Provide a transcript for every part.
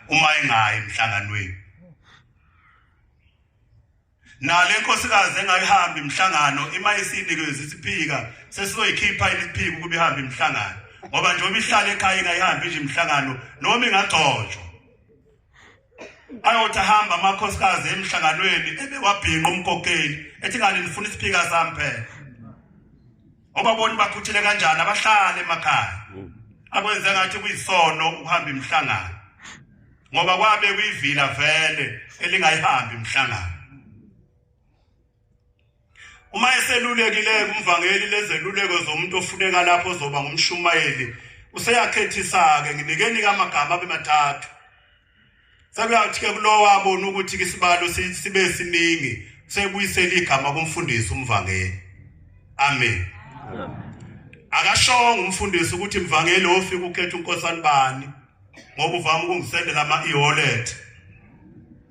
uma engayi emhlanganweni nale nkosikazi engayihambi imhlangano ima isinike isiphika sesizoyikhipha iliphika ukuba ihambe imhlangano ngoba nje uma ihlala ekhaya ingayihambi nje imhlangano noma ingagcotshwa ayothi ahamba amakhosikazi emhlanganweni ebewabhinqa umkokeli ethi ngani nifuna isiphika sami phela Obaboni bakhuthile kanjani abahlale emakhaya. Akwenze ngathi kuyisono ukuhamba imhlangano. Ngoba kwabe kuyivila vele elingayihambi imhlangano. Uma eselulekile kumvangeli lezeluleko zomuntu ofuneka lapho zoba ngumshumayeli useyakhethisa ke nginikeni kamagama abemathathu Sekuyathi ke kulowo abona ukuthi ke isibalo sibe siningi sebuyisela igama kumfundisi umvangeli. Amen. Akashonga umfundisi ukuthi mvangeli ofika ukhetha unkosani bani ngoba uvama ukungisendela ama e-wallet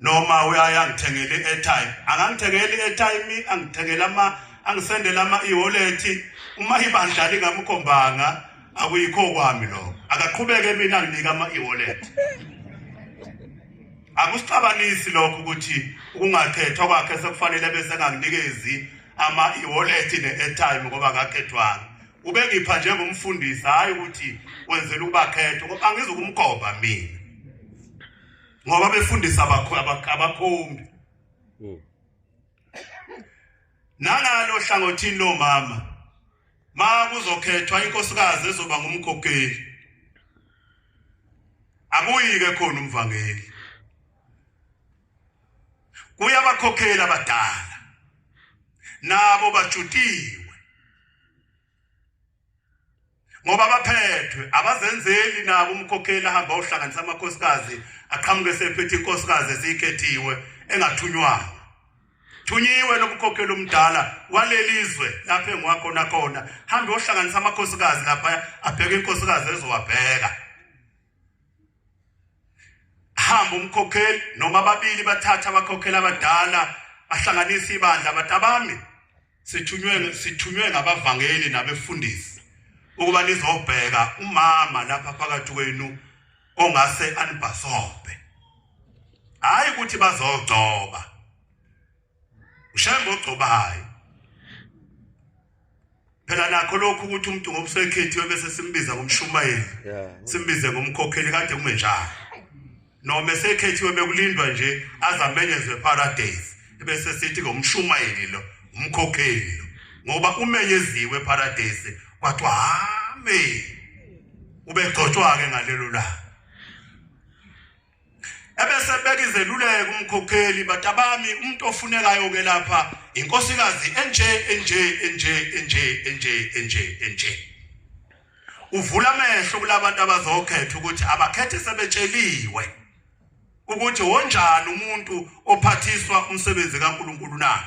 noma uyaya ngithengele airtime akangithengeli airtime angithengela ama angisendela ama e-wallet uma ibandla lingamkhombanga akuyikho kwami lokho akaqhubeke mina nginika ama e-wallet akusixabanisi lokho ukuthi ukungakhethwa kwakhe sekufanele bese enganginikezi ama e-wallet ne-airtime ngoba akakhethwanga ubengipha njengomfundisi hhayi ukuthi wenzela ukubakhetha ngoba angizukumgoba mina ngoba befundisa abakhombi hmm. nangalo hlangothini lomama ma kuzokhethwa inkosikazi ezoba ngumkhokheli akuyike khona umvangeli kuyabakhokhela abadala nabo bajutiwe ngoba abaphethwe abazenzeli nabo umkhokheli ahamba ohlanganisa amakhosikazi aqhamuke sephethe inkosikazi ezikhethiwe engathunywanga thunyiwe lobukhokheli omdala walelizwe lapho engiwakhona khona hambe ohlanganisa amakhosikazi lapha abheke inkosikazi ezowabheka hamba umkhokheli noma ababili bathatha abakhokheli abadala bahlanganisa ibandla batabami sithunywe sithunywe ngabavangeli nabefundisi ukuba nizobheka umama lapha phakathi kwenu ongase anibhasobhe hayi ukuthi bazogcoba ushaya ngogcobayo phela nakho lokhu ukuthi umuntu ngobusekhethiwe bese simbiza ngomshumayeli simbize ngomkhokheli kade kume njalo noma esekhethiwe bekulindwa nje azamenyezwe paradise bese sithi ngomshumayeli lo umkhokheli lo ngoba umenyeziwe paradise kwathiwa hame ubegcotshwa-ke ngalelo langa ebese beka izeluleko umkhokheli batabami umuntu ofunekayo ke lapha inkosikazi enje enje enje enje enje enje enje uvula amehlo kulabantu abazokhetha ukuthi abakhethe sebetsheliwe ukuthi wonjani umuntu ophathiswa umsebenzi kaNkuluNkulu na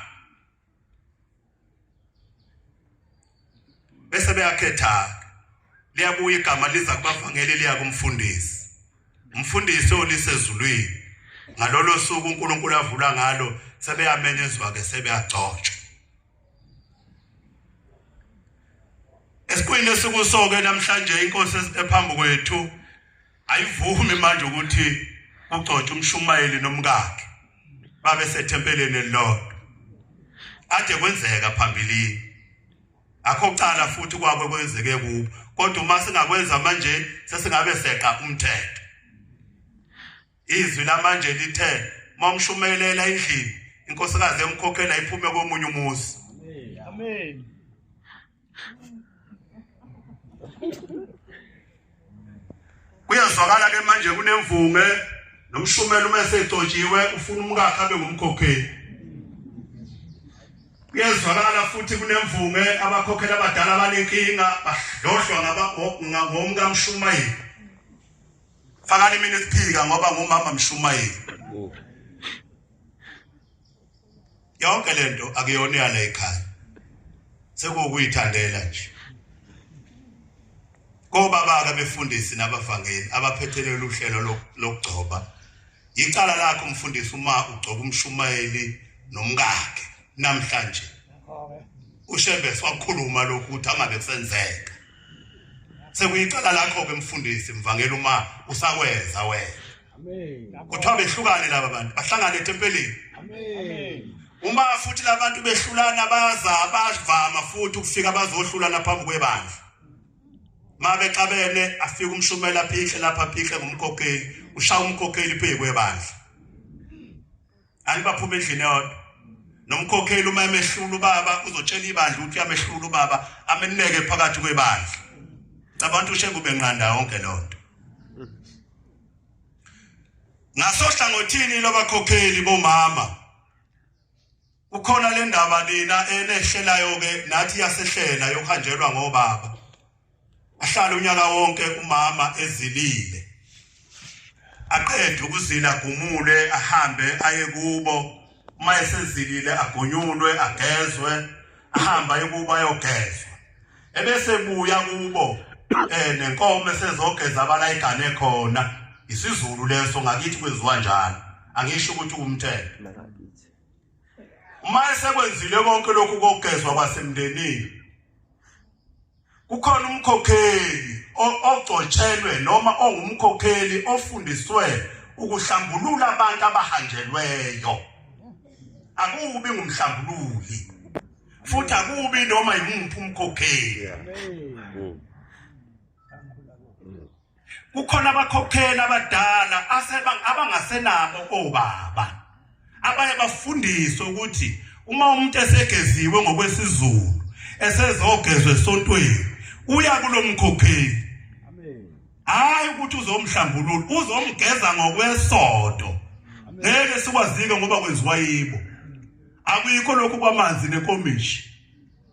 bese beyakhetha liyabuya igama liza kubavangeli liya kumfundisi umfundisi olisezulwini ngalolo suku uNkulunkulu avula ngalo sebeyamenyezwa ke sebeyagcotshwa esikhwini esikusoke namhlanje inkosi esiphambi kwethu ayivumi manje ukuthi ugcotshwe umshumayeli nomkakhe babe sethempeleni elilodwa ade kwenzeka phambilini akho cala futhi kwakwe kwenzeke kubo kodwa uma singakwenza manje sesingabe seqa umthetho izwi lamanje lithe momshumelela endlini inkosikazi emkhokhela iphume komunye umuzi amen kuyazwakala ke manje kunemvunge nomshumela uma esegcotshiwe ufuna umkakhe abe ngumkhokheli kuyezwakala futhi kunemvunge abakhokhela abadala abanenkinga badlodlwa ngomkamshumayeli fakani mina isiphika ngoba ngumama mshumayeli yonke lento akuyona yala ekhaya sekukuyithandela nje kobabaka befundisi nabavangeli abaphethelele uhlelo lokugcoba yicala lakho umfundisi uma ugcoba umshumayeli nomkakhe namhlanje ushembe swakhuluma lokhu ukuthi angabe kusenzeka sekuyicala lakho ke mfundisi mvangela uma usakwenza wena kuthiwa behlukane laba bantu bahlangane etempeleni uma futhi labantu behlulana baza bavama futhi ukufika bazohlulana phambi kwebandla mabexabene afika umshumela phihle lapha phihle ngomkhokheli ushaya umkhokheli phezu kwebandla ani baphuma endlini eyodwa nomkhokheli uma emehlula ubaba uzotshela ibandla ukuthi uyamehlula ubaba ameneke phakathi kwebandla cabantu ushengu benqanda yonke lonto ngasohlangothini lobakhokheli bomama ukhona le ndaba lena enehlelayo ke nathi yasehlela yokuhanjelwa ngobaba ahlale unyaka wonke umama ezilile aqede ukuzila agumule ahambe aye kubo uma esezilile agonyulwe agezwe ahambe aye kubo ayogezwa ebese buya kubo eh nenkomo esezogeza abala igane khona isizulu leso ngakithi kwenziwa njalo angisho ukuthi umthetho uma esekwenzile konke lokhu kokugezwa kwasemndenini Kukhona umkhokheli ogcotshelwe noma ongumkhokheli ofundiswe ukuhlambulula abantu abahanjelweyo. Akubi ngumhlambululi. Futhi akubi noma yimuphi umkhokheli. kukhona abakhokheli abadala abangasenabo obaba abaye bafundiswe ukuthi uma umuntu esegeziwe ngokwesizulu esezogezwa esontweni uya kulomkhokheli hayi ukuthi uzomhlambulula uzomgeza ngokwesodo ngeke sikwazike ngoba kwenziwa yibo akuyikho lokhu kwamanzi nekomishi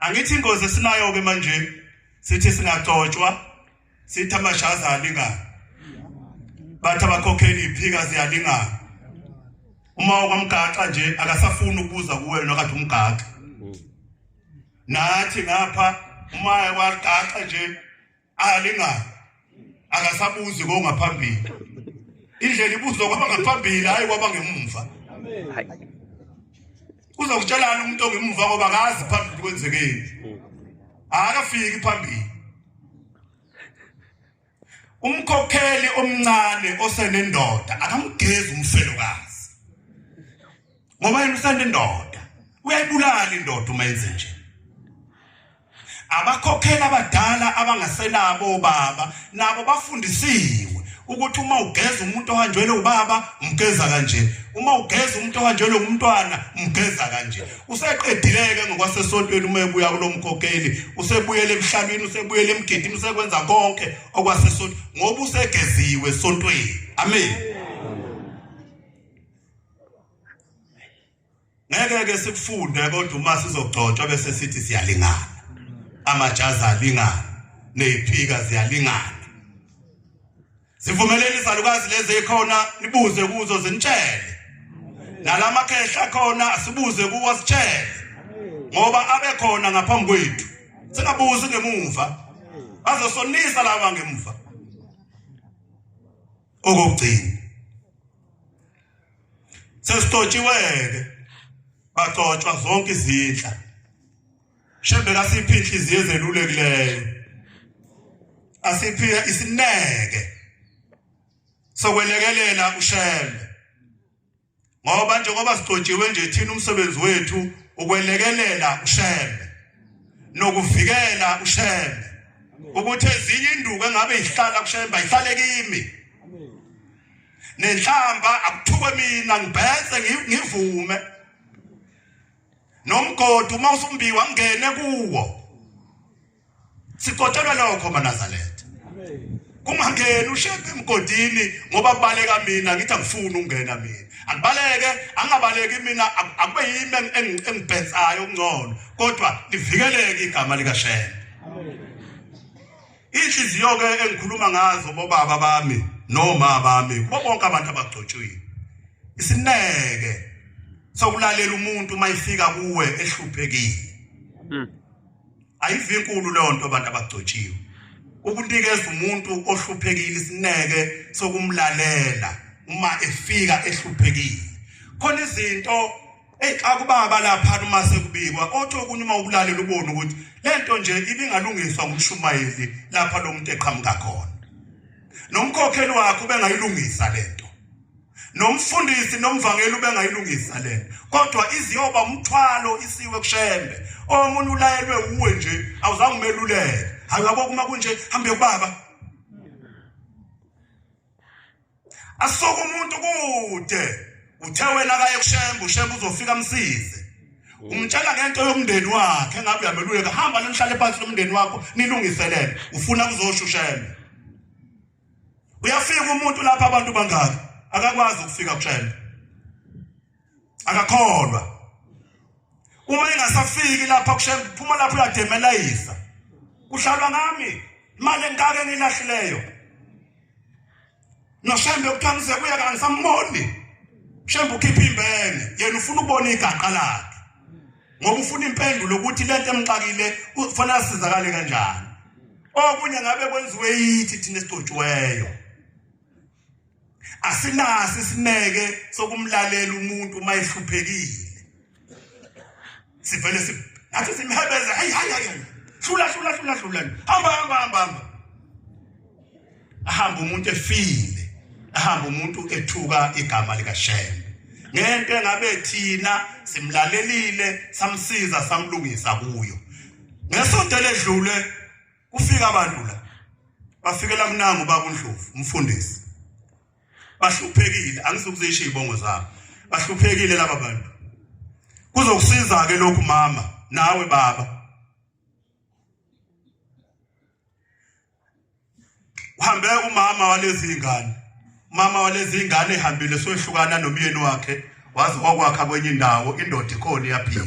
angithi ingozi esinayo ke manje sithi singaxotshwa sithi amashaza alingana bathi abakhokheli iphika ziyalingana uma okwamgaxa nje akasafuni ukubuza kuwe wena kathi umgaxa nathi ngapha uma wagaxa nje alingayo akasabuzi kongaphambili indlela ibuzwa kwaba ngaphambili hayi kwaba ngemumva uzokutshelana umuntu ongemumva ngoba akazi phambili kwenzekeni akafiki phambili umkhokheli omncane osenendoda akamgezi umfelokazi ngoba yena usenendoda uyayibulala indoda uma yenze nje Abakhokhela abadala abangasenabo obaba nabo bafundisiwe ukuthi uma ugeza umuntu ohanjelwe ubaba umgeza kanje uma ugeza umuntu ohanjelwe umntwana umgeza kanje useqedileke ngokwasesontweni uma ebuya kulomkhokheli usebuyele emhlabeni usebuyele emgidini usekwenza konke okwasesonto ngoba usegeziwe esontweni amen ngeke ke sikufunde kodwa uma sizogcotshwa bese sithi siyalingana amajazi alingana neziphika ziyalingana sivumeleni izalukazi lezi ekhona nibuze kuzo zinitshele nalamakhehla khona asibuze kuwo sitshele ngoba abekhona ngaphambi kwethu singabuzi ngemuva bazosonisa laba ngemuva okugcina sesitotshiweke bagcotshwa zonke izindla shembe kasiphi inhliziyo ezelulekileyo asiphiwe isineke sokwelekelela ushembe ngoba njengoba sigcotshiwe nje thina umsebenzi wethu ukwelekelela ushembe nokuvikela ushembe ukuthi ezinye induku engabe ihlala kushembe ayihlale kimi nenhlamba akuthukwe mina ngibhese ngivume nomgodi uma usumbiwa ngene kuwo sigotelwa lokho manazaletha kungangeni ushebe emgodini ngoba kubaleka mina ngithi angifuni ukungena mina akubaleke angabaleki mina akube yimi engibhensayo okungcono kodwa livikeleke igama likashembe amen Inhliziyo ke engikhuluma ngazo bobaba bami noma bami kubo bonke abantu abagcotshiwe. Isineke sokulalela umuntu mayifika kuwe ehluphekile. Hmm. Ayivi inkulu leyo nto abantu abagcotshiwe. Ukunikeza umuntu ohluphekile isineke sokumlalela uma efika ehluphekile. Khona izinto Ey akubaba lapha uma sekubikwa othi okunye uma ukulalela ubone ukuthi lento nje ibingalungiswa ngumshumayeli lapha lo muntu eqhamuka khona. Nomkhokheli wakhe ubengayilungisa lento. Nomfundisi nomvangeli ubengayilungisa lento. Kodwa iziyoba umthwalo isiwe kushembe. Omunye ulayelwe uwe nje awuzange umeluleke. Hayi yabo kuma kunje hambe kubaba. asuke umuntu kude uthe wena kaye kushembe ushembe uzofika msize umtshela ngento yomndeni wakhe engabe uyameluleka hamba nomhlale phansi lomndeni wakho nilungiselele ufuna kuzosho ushembe uyafika umuntu lapha abantu bangaki akakwazi ukufika kushembe akakholwa uma engasafiki lapha kushe phuma lapha uyademelayisa kuhlalwa ngami imali engaka engilahlileyo noshembe kuthiwa ngize kuya kangisamoni shembe ukhipha imbene yena ufuna ukubona igaqa lakhe ngoba ufuna impendulo ukuthi lento emxakile ufuna asizakale kanjani okunye ngabe kwenziwe yithi thina esicotshiweyo asinaso isineke sokumlalela umuntu uma ehluphekile sivele si nathi simhebeza hayi hayi hayi hlula hlula hlula hlula hamba hamba hamba hamba ahamba umuntu efile ahamba umuntu ethuka igama likashembe ngento engabe thina simlalelile samsiza samlungisa kuyo ngesonto ledlule kufika abantu la bafikela mnangu baba uNdlovu umfundisi bahluphekile angisukuzisho izibongo zabo bahluphekile laba bantu kuzokusiza ke lokhu mama nawe baba uhambe umama walezi ingane mama walezi ingane ehambile sohlukana nomyeni wakhe waze wakwakha kwenye indawo indoda ikhona iyaphila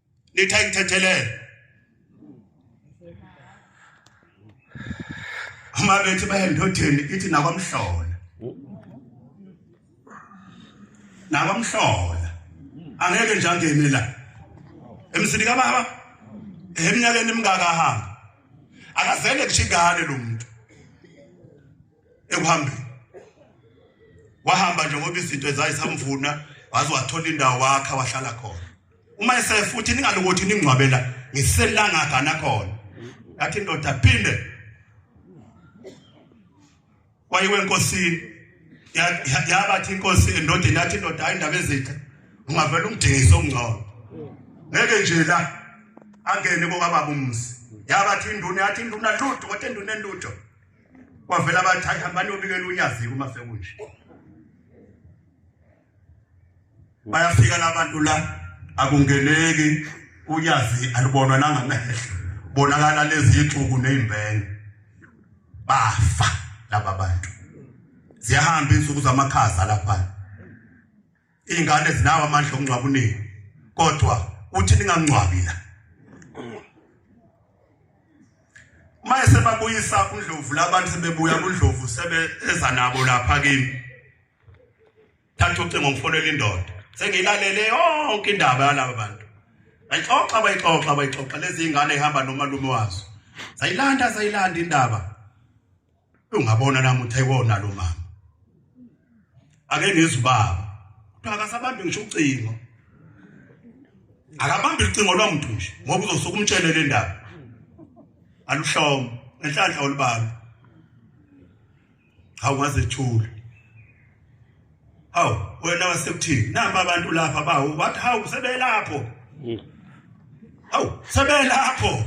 nithi ayithethelele uma bethi baye ndotheni ithi nakwamhlola nakwamhlola angeke nje angene la emsini kababa eminyakeni emingaka ahamba akazele kushigane lo muntu ekuhambeni wahamba nje ngoba izinto ezayisamvuna waze wathola indawo wakha wahlala khona uma esefuthi ningalokothi ningcwabela ngiselanga gana khona yathi indoda phinde wayiwe enkosini yabathi inkosi endodeni yathi indoda hayi indaba ezithe ungavela umdingise ongcono ngeke nje la angene kokababa umzi yabathi induna yathi induna lutho kodwa induna entutho kwavela abathi hayi hambani yobikela unyaziko uma sekunje bayafika labantu la akungeneki unyazi alibonwa nangamehlo bonakala lezixuku nezimbenge bafa laba bantu ziyahamba insuku zamakhaza lapha Izingane zinawo amandla okungcwaba unini. Kodwa uthi ningangcwabi la. Uma esebabuyisa uNdlovu labantu sebebuya kuNdlovu sebe eza nabo lapha kimi. Thatha ucingo ngifonele indoda. Sengilalele yonke indaba yalabo bantu. Bayixoxa bayixoxa bayixoxa lezi zingane ihamba nomalume wazo. Sayilanda sayilanda indaba. ungabona nami uthe kona lo mama ake ngizwe baba kuthiwa akasabambi ngisho ucingo akabambi ucingo lwamuntu nje ngoba uzosuka umtshele le ndaba aluhlomo enhlanhla olubaba hawu wazethula hawu wena wasekuthini namba abantu lapha bawu bathi hawu sebelapho hawu sebelapho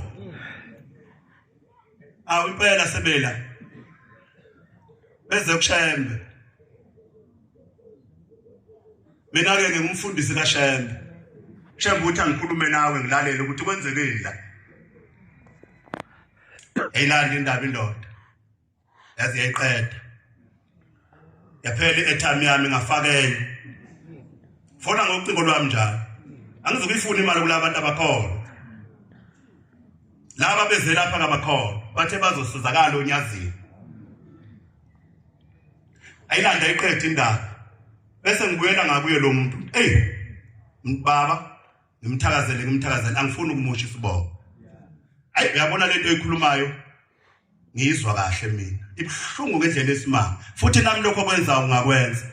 Awu impela sebela. Beze kushembe. Mina ke ngingumfundisi kaShembe. Shembe uthi angikhulume nawe ngilalele ukuthi kwenzekeni la. Eyilanda indaba indoda. yaze yayiqeda yaphela i-airtime yami ngafaka enye fona ngocingo lwami njalo angizokuyifuna imali kulaba bantu abakhona laba bezelapha ngabakhona bathe bazosizakala onyazini ayilanda iqede indaba bese ngibuyela ngakuye lo muntu ey baba ngimthakazele ngimthakazele angifuni ukumosha isibongo ayi uyabona lento eyikhulumayo ngiyizwa kahle mina ibuhlungu ngendlela esimanga futhi nami lokho kwenza ungakwenza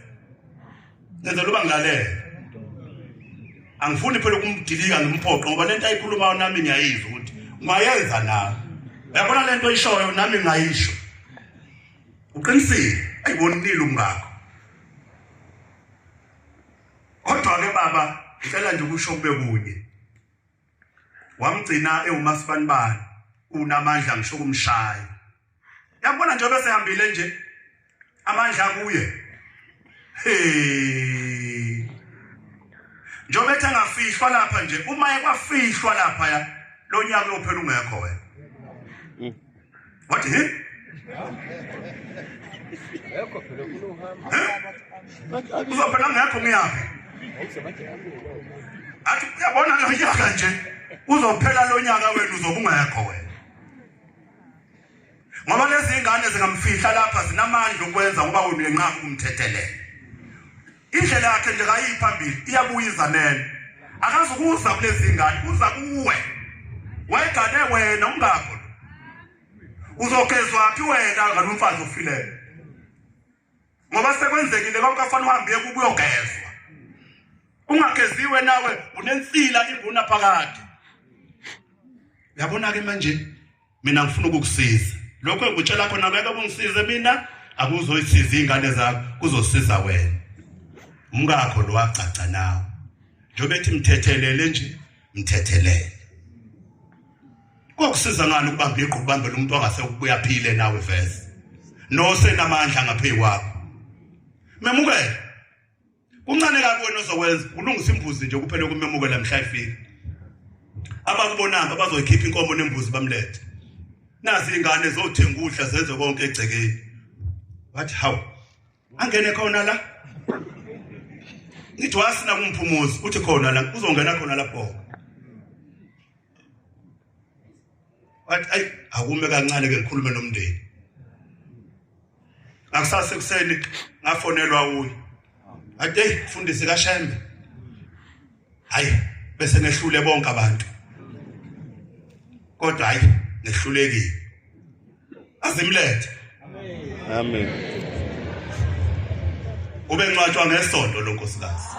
ngenza loba ngilalele angifuni phela ukumdilika ngimphoqe ngoba lento ayikhulumayo nami ngiyayizwa ukuthi ungayenza nawe uyabona lento oyishoyo nami ngayisho uqinisile ayibonile umngakho kodwa ke baba ngicela nje ukusho kube kunye wamgcina ewumaspanibani unamandla ngisho kumshaya yabona nje bese hambile nje amandla kuye hey njengoba ethi angafihlwa lapha nje uma ekwafihlwa lapha ya lo nyaka uyophela ungekho wena Wathi he? Yekho phela ufuna uhamba. Uzophela ngekho ngiyaphi? Athi uyabona lo nyaka nje uzophela lo nyaka wenu uzobungekho wena. Ngoba lezi ngane zingamfihla lapha zinamandla ukwenza ngoba wena uyenqaba ukumthethelela. Indlela yakhe nje kayiphambili iyabuya izanele. Akazukuza kulezi ngane, uza kuwe. Wayegane wena ungakho. Uzogezwa phi wena ngalomfazi ofileyo? Ngoba sekwenzekile konke afana uhambe ukuyogezwa. Ungageziwe nawe unensila inguna phakade. Yabona ke manje mina ngifuna ukukusiza lokho engikutshela khona ngeke kungisize mina akuzoyisiza izingane zakho kuzosiza wena umkakho lo wagcagca nawe njengoba ethi mthethelele nje mthethelele kokusiza ngani ukubamba igqu kubambela umuntu ongase ukubuya phile nawe vese nosenamandla ngaphezu kwakho memukele kuncane kabi wena ozokwenza ulungisa imbuzi nje kuphele kumemukela mhla ifika abakubonanga bazoyikhipha inkomo nembuzi bamlethe nazi ingane zothenga ukudla zenze konke egcekeni what how angene khona la ngithi wasina kumphumuzi uthi khona la uzongena khona lapho wathi ayi akume kancane ke ngikhulume nomndeni ngakusasa ekuseni ngafonelwa uyi ade fundisi kashembe hayi bese nehlule bonke abantu kodwa hayi nehlulekile azimlethe amen ube ncwatshwa ngesonto lonkosikazi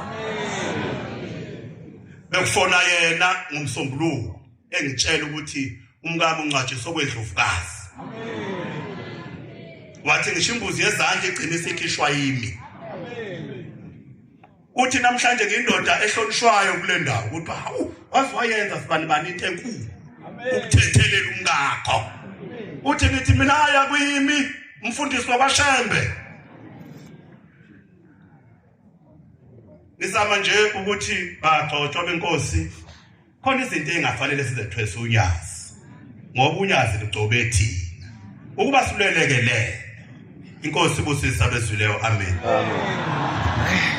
bekufona yena ngomsombuluko engitshela ukuthi umkami uncwatshiswa kwedlovukazi wathi ngisho imbuzi yezandla igcina isikhishwa yimi Uthi namhlanje ngindoda ehlonishwayo kule ndawo ukuthi hawu waze wayenza sibani bani into enkulu ukuthethelela umkakho. Uthi nithi mina aya kuyimi umfundisi wabashembe. Ngisama nje ukuthi bagcotshwa benkosi khona izinto engafanele sizethwesa unyazi ngoba unyazi lugcobe thina ukuba silweleke le inkosi ibusisa bezwileyo amen, amen.